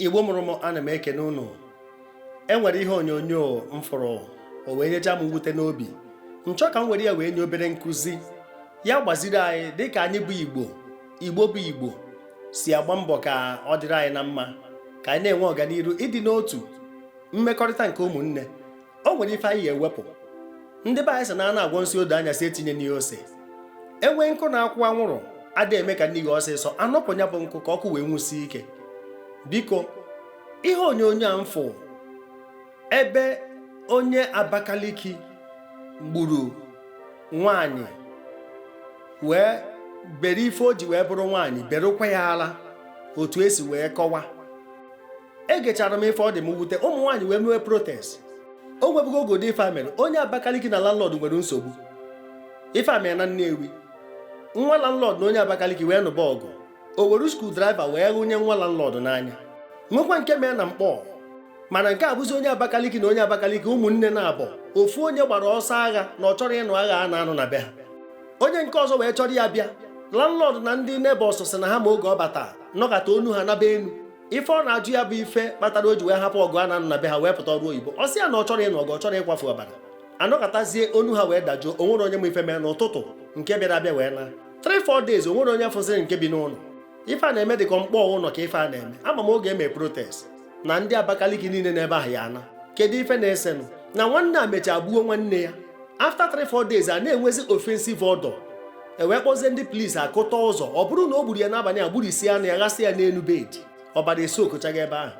igbo mụrụ m ana m ekene unu e nwere ihe onyonyo m fụrụ o wee nyecha m mwute n'obi m chọọ ka m were ya wee nye obere nkuzi ya-agbaziri anyị dịka anyị bụ igbo igbo bụ igbo si agba mbọ ka ọ dịrị anyị na mma ka anyị na-enwe ọganiru ịdị n'otu mmekọrịta nke ụmụnne o nwere ife anyị ya-ewepụ ndị be anyị sị na a na-agwọ nsi odo anya si etinye n'ihe ose e nwee nkụ na-akwụ anwụrụ ada eme ka n'ihi ọsịsọ a nọpụ ya bụ nkụ ka ọkụ wee nwusie ike biko ihe onyonyo a m fụ ebe onye Abakaliki gburu nwaanyị wee bere ife o ji wee bụrụ nwaanyị berụkwa ya ala otu e si wee kọwa egechara m ife ọ dị mwute ụmụ nwaanyị wee mewe protest o nwebugo oge ụdị ife a mere onye abakaliki na landlord nwere nsogbu ife a mere na nnewi nwa landlord na onye abakaliki wee nụba ọgụ o were screwdriver wee ghụnye nwa landlord n'anya nwekwa nke mee na Nkpor mana nke a bụzi onye abakaliki na onye abakaliki ụmụnne naabọ ofu onye gbara ọsọ agha na ọ chọrọ ịnụ agha a na-anụ na be ha onye nke ọzọ wee chọrọ ya bịa landlord na ndị neighbours sị na ha ma oge ọ bata nọkata onu ha naba enu ife ọ na-ajụ ya bụ ife kpatara o ji wee hapụ ọgụ a na-anụ na be ha wee pụta ọrụ oyibo ọ sị ya na ọ chọrọ ịnụ ọgụ ọ chọrọ ịkwafu ọbara a nọkatazie onu ha wee dajụọ o nwerọ onye ma ife mee n'ụtụtụ nke bịara abịa wee naa 3-4 days o nwerọ onye fụziri nke bi n'ụnọ ife a na-eme dịka Nkpor Ụnọ ka ife a na-eme ama m oge eme protest na ndị Abakaliki niile n'ebe ahụ ya-ana kedu ife na-esenụ na nwanne a mechaa gbuo nwanne ya after 3-4 days a na-enwezi offensive odour e wee kpọzie ndị polisi a kụta ụzọ ọ bụrụ na o gburu ya n'abanị a gburisi anụ ya ghasị ya n'enu bed ọbara esi okochaghị ebe ahụ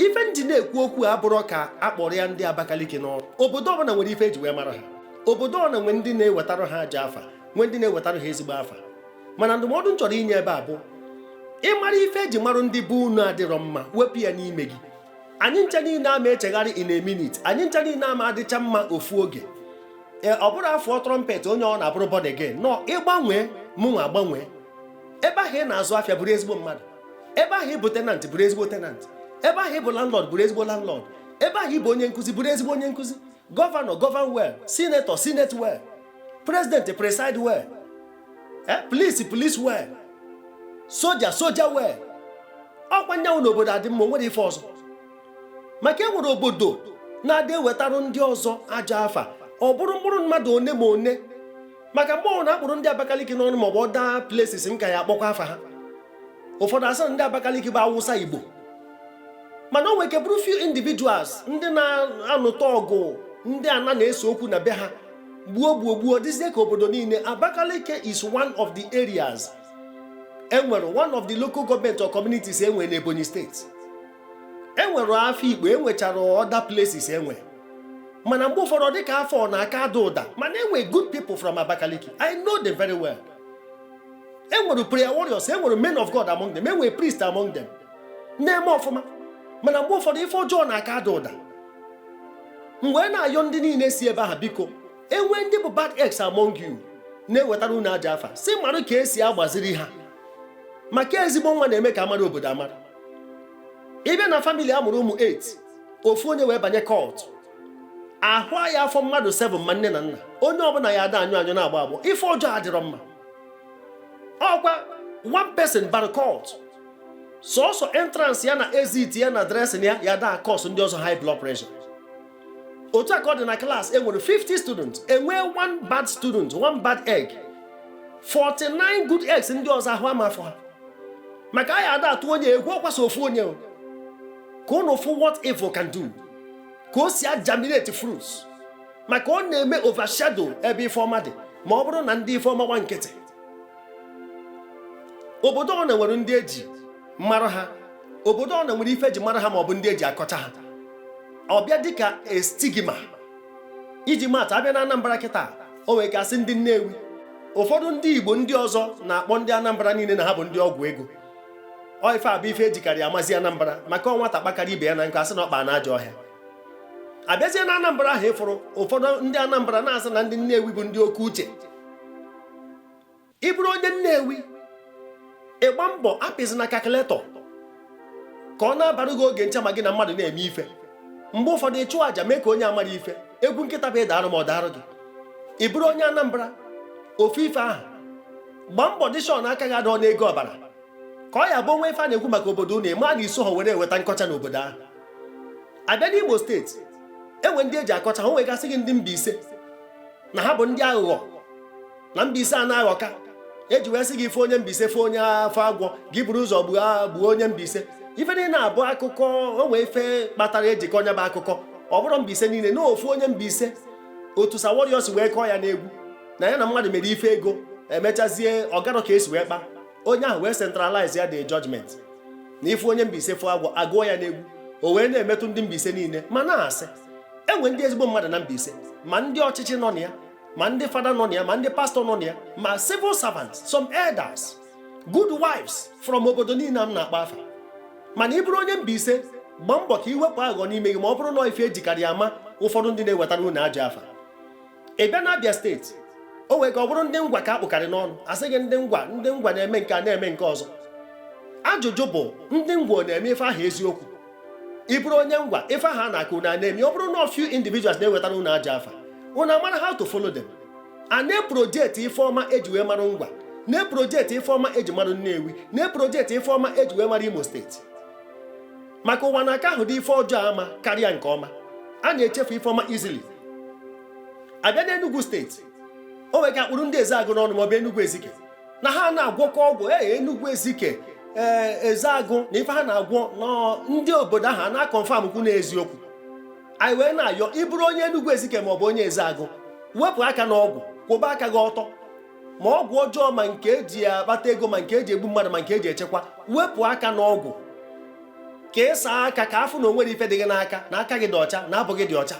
ife m ji na-ekwu okwu abụrọ ka a kpụrụ ya ndị Abakaliki n'ọnụ obodo ọbụla nwere ife e ji wee marụ ha obodo ọbụla nwere ndị na-ewetarụ ha ajọ afa nwee ndị na-ewetarụ ha ezigbo afa mana ndụmọdụ m chọrọ inye ebe a bụ ị mara ife e ji marụ ndị be unu adịrọ mma wepụ ya n'ime gị anyị ncha niile ama echegharị in a minute anyị ncha niile ama adịcha mma ofu oge ee ọ bụrọ a fụọ trumpet onye ọọna abụrụ born again no ị gbanwee mụnwa agbanwee ebe ahụ ị na-azụ afịa bụrụ ezigbo mmadụ ebe ahụ ị bụ tenant bụrụ ezigbo tenant ebe ahụ ị bụ landlord bụrụ ezigbo landlord ebe ahụ ị bụ onye nkuzi bụrụ ezigbo onye nkuzi governor govern well senator senate well president preside well eh, police police well soldier soldier well ọkwa nyanwụ n'obodo adị mma o nwerọ ife ọzọ maka e nwere obodo na-adị ewetarụ ndị ọzọ ajọ afa ọ bụrụ mkpụrụ mmadụ one ma one maka mgbe ọọna a kpụrụ ndị Abakaliki n'ọnụ maọbụ other places m ka ya-akpọkwa afa ha ụfọdụ asị na ndị Abakaliki bụ Awụsa Igbo mana o nwere ike bụrụ few individuals ndị na-anụta ọgụ ndị ana na-ese okwu na be ha gbuo gbuo gbuo dịzie ka obodo niile Abakaliki is one of the areas enwere one of the local government or communities enwe na Ebonyi steeti enwere Afikpo enwechara other places enwe mana mgbe ụfọdụ dị ka afọ na-aka ada ụda mana enwe good people from Abakaliki I know them very well. e nwere prayer warriors e nwere men of God among them e nwere priest among them na-eme ọfụma mana mgbe ụfọdụ ife ọjọọ na-aka ada ụda m wee na-ayọ ndị niile si ebe ahụ biko enwee ndị bụ bad eggs among you na-ewetara unu ajọ afa si mara ka esi agbaziri ha maka ezigbo nwa na-eme ka amara obodo amara ịbịa na family a mụrụ ụmụ 8 ofu onye wee banye cult ahụ aya afọ mmadụ 7 ma nne na nna onye ọbụla ya ada anyụ anyụ na-agbọ agbọ ife ọjọọ adịrọ mma ọkwa one person bara cult sọsọ entrance ya na exit ya na dressing ya ya da cause ndị ọzọ high blood pressure otu a ka ọ dị na class e nwere 50 students enwee one bad student one bad egg 49 good eggs ndị ọzọ ahụ ama afọ ha maka a ya ada atụ onye egwu ọkwa sọ ofu onye ka unu fụ what evil can do ka o si agerminate fruits maka ọ na-eme overshadow ebe ife ọma dị ma ọ bụrụ na ndị ife ọma gba nkịtị obodo ọ na nwere ndị eji mara ha obodo ọ na nwere ife eji mara ha ma ọ bụ ndị eji akọcha ha ọbịa dịka stigma iji maatụ abịa na Anambra kịta o nwere ga-asị ndị Nnewi ụfọdụ ndị Igbo ndị ọzọ na-akpọ ndị Anambra niile na ha bụ ndị ọgwụ ego ọ ife a bụ ife ejikarị amazi Anambra maka ọ nwata kpakara ibe ya na nkụ asị na ọ kpa na ajọ ọhịa abịazie na Anambra ahụ ịfụrụ ụfọdụ ndị Anambra na-asị na ndị Nnewi bụ ndị oke uche ịbụrụ onye Nnewi ịgba mbọ apịzina calculator ka ọ na-abara gị oge ncha ma gị na mmadụ na-eme ife mgbe ụfọdụ ịchụ àjà mee ka onye amarọ ife egwu nkịta bụ ịdarụ m mụ adarụ gị ị bụrụ onye Anambra ofu ife ahụ gbaa mbọ dị sure na aka gị adọ n'ego ọbara ka ọ ya-abụ o nwe ife a na-ekwu maka obodo unu ịma na iso ha were eweta nkọcha n'obodo ahụ abịa n'Imo steeti enwe ndị eji akọcha ha nwe ga-asị gị ndị Mbaise na ha bụ ndị aghụghọ na Mbaise a na-aghọka eji wee sị gị ịfụ onye Mbaise fụ onye afụ agwọ gị buru ụzọ gbuo onye Mbaise ife niile na-abụ akụkọ o nwe ife kpatara eji kọọ nya bụ akụkọ ọ bụrọ Mbaise niile na ofu onye Mbaise otu Sir Warrior si wee kọọ ya n'egwu na ya na mmadụ mere ife ego emechazie ọgarọ ka esi wee kpa onye ahụ wee centralize ya the judgment na ị fụ onye Mbaise fụ agwọ agụọ ya n'egwu o wee na-emetụ ndị Mbaise niile ma na-asị enwe ndị ezigbo mmadụ na Mbaise ma ndị ọchịchị nọ na ya ma ndị fada nọ na ya ma ndị pastọ nọ na ya ma civil servants some elders good wives from obodo niile m na-akpa afa mana ị bụrụ onye Mbaise gbaa mbọ ka iwepụ aghọ n'ime gị ma ọ bụrụ na ife ejikarị ama ụfọdụ ndị na-ewetara unu ajọ afa ị bịa n'Abia steeti o nwere ka ọ bụrụ ndị ngwa ka akpụkarị n'ọnụ asị gị ndị ngwa ndị ngwa na-eme nke a na-eme nke ọzọ ajụjụ bụ ndị ngwa na-eme ife ahụ eziokwu ị bụrụ onye ngwa ife ahụ a na-akọ unu a na-eme ọ bụrụ na few individuals na-ewetara unu ajọ afa unu amara how to follow them a na-eprojekti ife ọma eji wee mara ngwa na-eprojekti ife ọma eji mara Nnewi na-eprojekti ife ọma eji wee mara Imo steeti maka ụwa na-aka ahụdo ife ọjọọ ama karịa nke ọma a na-echefu ife ọma easily abịa n'Enugu steeti o nwere ka akpụrụ ndị Ezeagụ n'ọnụ maọbụ Enugu Ezike na ha na-agwọka ọgwụ ee Enugu Ezike ee Ezeagụ na ife ha na-agwọ nọ ndị obodo ahụ a na-akọnfam kwu na eziokwu anyị wee na-ayọ ịbụrụ onye Enugu Ezike maọbụ onye Ezeagụ wepụ aka n'ọgwụ kwụba aka gị ọtọ ma ọgwụ ọjọọ ma nke eji akpata ego ma nke eji egbu mmadụ ma nke eji echekwa wepụ aka n'ọgwụ ka ị saa aka ka afụ na onwerọ ife dị gị n'aka na aka gị dị ọcha na abụ gị dị ọcha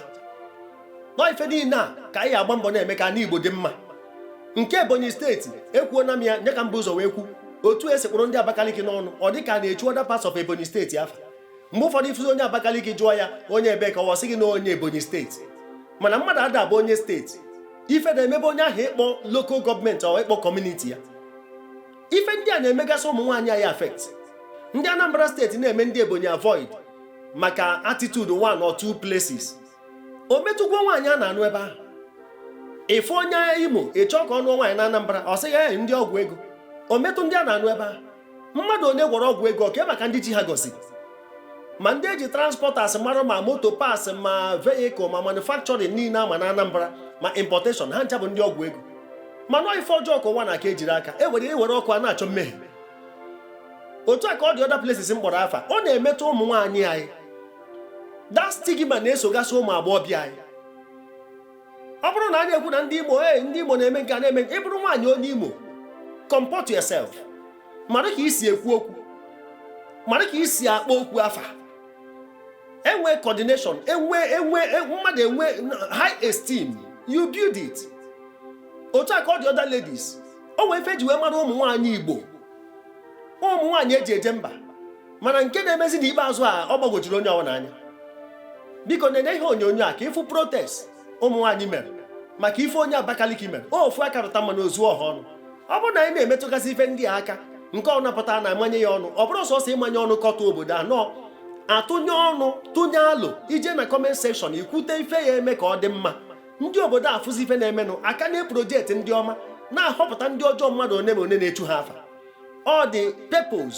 nọ ife niile a ka anyị agba mbọ na-eme ka ana Igbo dị mma nke Ebonyi steeti ekwuona m ya nya ka m bu ụzọ wee kwu otu esi kpụrụ ndị Abakaliki n'ọnụ ọ dị ka na-echu other parts of Ebonyi steeti afa mgbe ụfọdụ ifụzi onye Abakaliki jụọ ya onye ebe ka ọ sị gị na onye Ebonyi steeti mana mmadụ ada abụ onye steeti ife na-emebe onye ahụ ịkpọ local government or ịkpọ community ya ife ndị a na-emegasị ụmụ nwaanyị anyị affect ndị Anambra steeti na-eme ndị Ebonyi avoid maka attitude one or two places o metụgwo nwaanyị a na-anụ ebe ahụ ịfụ onye Imo ịchọ ka ọ nụọ nwaanyị na Anambra ọ sị ya ndị ọgwụ ego o metụ ndị a na-anụ ebe ahụ mmadụ onye gwọrọ ọgwụ ego ọka maka ndị chi ha gọzi ma ndị eji transporters mara ma motor parts ma vehicle ma manufacturing niile ama na Anambra ma importation ha ncha bụ ndị ọgwụ ego mana ife ọjọọ ka ụwa na-aka ejiri aka e were ewere ọkụ a na-achọ mmehie otu a ka ọ dị other places m kpọrọ afa ọ na-emetụ ụmụ nwaanyị anyị that stigma na-esogasị ụmụ agbọghọbịa anyị ọ bụrụ na a na-ekwu na ndị Imo ee ndị Imo na-eme nke a na-eme nke ị bụrụ nwaanyị onye Imo comport yourself mara ka isi ekwu okwu mara ka isi akpọ okwu afa enwe coordination enwe enwe e, mmadụ enwe high esteem you build it otu a ka ọ dị other ladies o nwee ife eji wee mara ụmụ nwaanyị Igbo ụmụ nwaanyị eji eje mba mana nke na-emezi n'ikpeazụ a ọ gbagwojuru onye ọbụla anya biko nene ihe onyonyo a ka ị fụ protest ụmụ nwaanyị mere maka ife onye Abakaliki mere ofu aka rụta mmanụ o zuo ọha ọnụ ọ bụrụ na anyị na-emetụgasị ife ndị a aka nke ọ na-apụta na-amanye ya ọnụ ọ bụrọ sọsọ ịmanye ọnụ kọtọ obodo a nọ a tụnye ọnụ tụnye alo i je na comment section i kwute ife a ya-eme ka ọ dị mma ndị obodo afụzi ife na-emenụ a ka na-eproject ndị ọma na-ahọpụta ndị ọjọọ mmadụ one ma one na-echu ha afa ọ dị pepos